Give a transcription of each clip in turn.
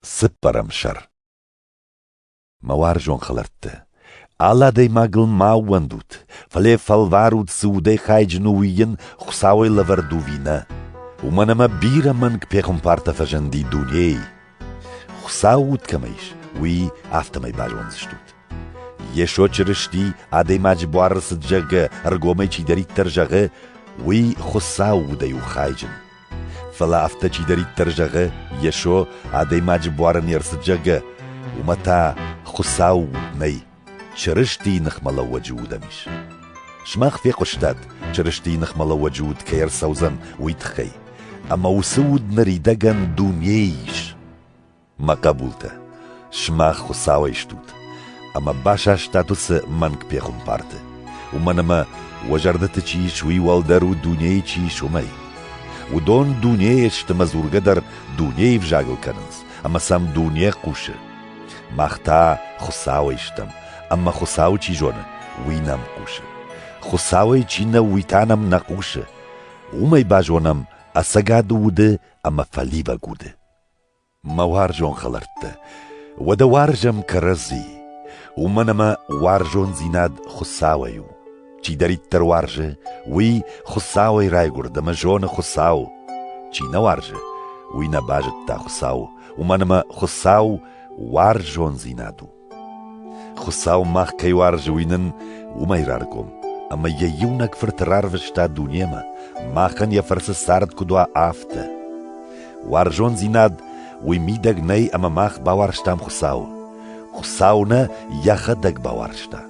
Цыппӕрӕм сӕр Мӕ уарзон хӕлӕрттӕ, алы адӕймагыл ма ууӕндут, фӕлӕ фӕлварут, цы удӕй хайджын у, уый йын Хуыцауӕй лӕвӕрд уви нӕ, уымӕн ӕмӕ бирӕ мӕнг пехуымпартӕ фӕзынди дунейы. Хуыцау уд кӕмӕ ис, уый афтӕмӕй базондзыстут. Йесо Чырысти адӕймаджы буары цыд зӕгъгӕ ӕргомӕй чидӕриддӕр зӕгъы, уый Хуыцау удӕй у хайджын. Фӕлӕ афтӕ чидӕриддӕр зӕгъы, Йесо адӕймаджы буары не рцыд, зӕгъгӕ, уымӕ та Хуыцау уд нӕй, Чырыстийы ныхмӕлӕууӕджы удӕн ис. Сымах фехъуыстат, Чырыстийы ныхмӕлӕууӕджы уд кӕй ӕрцӕудзӕн, уый тыххӕй, ӕмӕ уыцы уд ныридӕгӕн дунейы ис. мӕ хъӕбултӕ, сымах Хуыцауӕй стут, ӕмӕ басастат уыцы мӕнг пехуымпарты, уымӕн ӕмӕ уӕ зӕрдӕты чи ис, уый уӕлдӕр у дунейы чи ис, уымӕй. Уыдон дунейы сты мӕ дзургӕ дӕр дунейы взагыл кӕнынц, ӕмӕ сӕм дуне хъусы. Мах та Хуыцауӕй стӕм, ӕмӕ Хуыцау чи зоны, уый нӕм хъусы. Хуыцауӕй чи нӕу, уый та нӕм нӕ хъусы. Уымӕй базонӕм, ӕцӕгад уды ӕмӕ фӕливӕг уды. Мӕ уарзон хӕлӕрттӕ, уӕдӕ уарзӕм кӕрӕдзи, уымӕн ӕмӕ уарзондзинад Хуыцауӕй у. Чидӕриддӕр уарзы, уый Хуыцауӕй райгуырд ӕмӕ зоны Хуыцау. Чи нӕ уарзы, уый нӕ базыдта Хуыцау, уымӕн ӕмӕ Хуыцау уарзондзинад у. Хуыцау мах кӕй уарзы, уый нын уымӕй раргом, ӕмӕ йӕ иунӕг фырт рарвыста дунемӕ, махӕн йӕ фӕрцы цард куыд уа, афтӕ. Уарзондзинад уый мидӕг нӕй ӕмӕ мах бауарзтам Хуыцауы. Хуыцау нӕ йӕхӕдӕг бауарзта,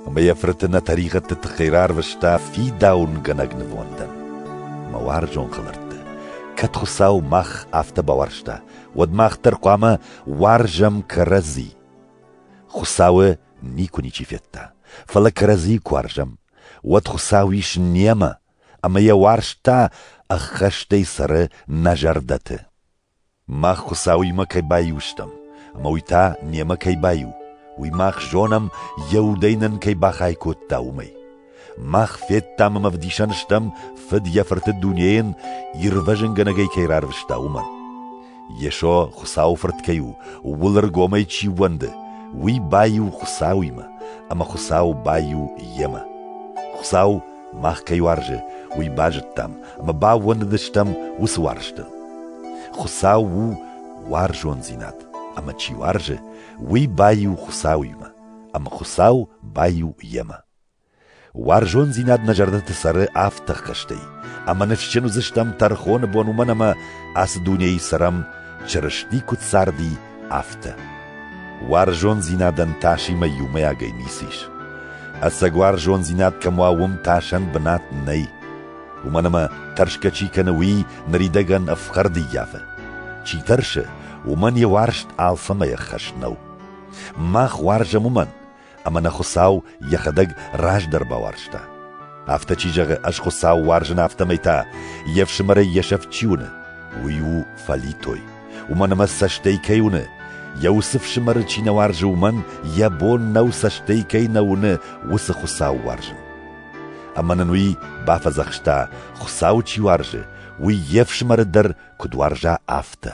ӕмӕ йӕ фырты нӕ тӕригъӕдты тыххӕй рарвыста фидауынгӕнӕг нывондӕн. Мӕ уарзон хӕлӕрттӕ, кӕд Хуыцау мах афтӕ бауарзта, уӕд мах дӕр хъуамӕ уарзӕм кӕрӕдзи. Хуыцауы никуы ничи федта, фӕлӕ кӕрӕдзийы куы уарзӕм, уӕд Хуыцау ис немӕ, ӕмӕ йӕ уарзт та ӕххӕстӕй цӕры нӕ зӕрдӕты. Мах Хуыцауимӕ кӕй баиу стӕм, ӕмӕ уый та немӕ кӕй баиу, уый мах зонӕм, йӕ удӕй нын кӕй бахай кодта, уымӕй. Мах федтам ӕмӕ ӕвдисӕн стӕм, фыд йӕ фырты дунейӕн ирвӕзынгӕнӕгӕй кӕй рарвыста, уымӕн. Йесо Хуыцауы Фырт кӕй у, ууыл ӕргомӕй чи ууӕнды, уый баиу Хуыцауимӕ, ӕмӕ Хуыцау баиу йемӕ. Хуыцау мах кӕй уарзы, уый базыдтам ӕмӕ баууӕндыдыстӕм уыцы уарзтыл. Хуыцау у уарзондзинад, ӕмӕ чи уарзы, уый баиу Хуыцауимӕ, ӕмӕ Хуыцау баиу йемӕ. Уарзондзинад нӕ зӕрдӕты цӕры авд тыхкӕстӕй, ӕмӕ ныфсджын уыдзыстӕм тӕрхоны бон уымӕн ӕмӕ ацы дунейы цӕрӕм, Чырысти куыд царди, афтӕ. Уарзондзинадӕн тасимӕ иумӕйагӕй ницы ис. Ӕцӕг уарзондзинад кӕм уа, уым тасӕн бынат нӕй. Уымӕн ӕмӕ тӕрсгӕ чи кӕны, уый ныридӕгӕн ӕфхӕрд ӕййафы. Чи тӕрсы, уымӕн йӕ уарзт алфӕмӕй ӕххӕст нӕу. Мах уарзӕм уымӕн, ӕмӕ нӕ Хуыцау йӕхӕдӕг раздӕр бауарзта. Афтӕ чи зӕгъы, ӕз Хуыцау уарзын, афтӕмӕй та, йе фсымӕрӕй йӕ сӕфт чи уыны, уый у фӕлитой. Уымӕн ӕмӕ цӕстӕй кӕй уыны, йӕ уыцы фсымӕры чи нӕ уарзы, уымӕн йӕ бон нӕу цӕстӕй кӕй нӕ уыны, уыцы Хуыцау уарзын. Ӕмӕ нын уый бафӕдзӕхста, Хуыцау чи уарзы, уый йе фсымӕры дӕр куыд уарза, афтӕ.